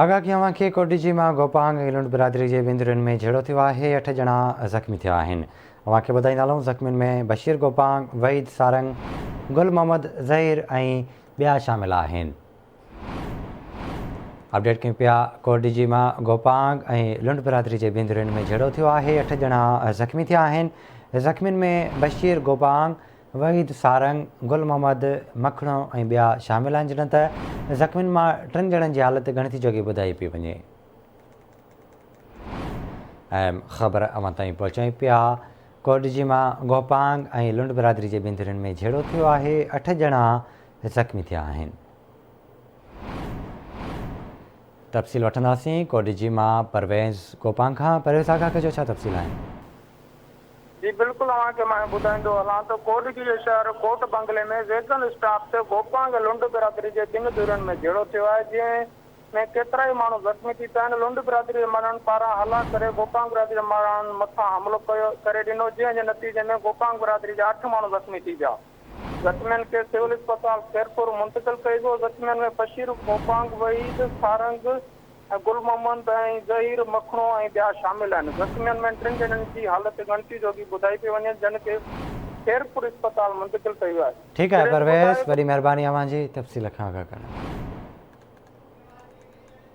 آگاهه ڪيون آهن کي ڪوٽڏيجي مان گوپانگ ۽ لنڊ برادري جي ٻن ڌرين ۾ جهيڙو ٿيو آهي، اٺ ڄڻا زخمي ٿيا آهن. اوهان کي ٻڌائيندا هلون زخمين ۾ بشير گوپانگ، وحيد سارنگ، گل محمد ظهير ۽ ٻيا شامل آهن. اپڊيٽ ڪيون پيا ڪوٽڏيجي مان گوپانگ ۽ لنڊ برادري جي ٻن ڌرين ۾ جهيڙو ٿيو آهي، اٺ ڄڻا زخمي ٿيا آهن، زخمين ۾ بشير گوپانگ، وحيد سارنگ، گل محمد مکڻو ۽ ٻيا شامل آهن جڏهن ته زخمين مان ٽن ڄڻن جي حالت ڳڻتي جوڳي ٻڌائي پئي وڃي. اهم خبر اوهان تائين پهچائين پيا ڪوڏجي مان گوپانگ ۽ لنڊ برادري جي ٻن ڌرين ۾ جهيڙو ٿيو آهي اٺ ڄڻا زخمي ٿيا آهن. تفصيل وٺنداسين ڪوڏجي مان پرويز گوپانگ کان پرويز آگاهه ڪجو ڇا تفصيل آهن. جي بلڪل اوهان کي مان ٻڌائيندو هلان ته ڪوٽڏيهه جي شهر ڪوٽ بنگلي ۾ ويگن اسٽاپ تي گوپانگ ۽ لنڊ برادري جي ٻن ڌرين ۾ جهيڙو ٿيو آهي جنهن ۾ ڪيترائي ماڻهو زخمي ٿي پيا آهن لنڊ برادري جي ماڻهن پاران هلا ڪري گوپانگ برادري جي ماڻهن مٿان حملو ڪيو ڪري ڏنو جنهن جي نتيجي ۾ گوپانگ برادري جا اٺ ماڻهو زخمي ٿي پيا زخمين کي سول اسپتال خيرپور منتقل ڪئي ويو زخمين ۾ بشير گوپانگ وحيد سارنگ. گل محمد ۽ ظهير مکڻو ۽ ٻيا شامل آهن. زخمين ۾ ٽن ڄڻن جي حالت ڳڻتي جوڳي ٻڌائي پئي وڃي، جن کي خيرپور اسپتال منتقل ڪيو ويو آهي. ٺيڪ آهي پرويز وڏي مهرباني اوهان جي تفصيل کان آگاهه ڪرڻ لاء.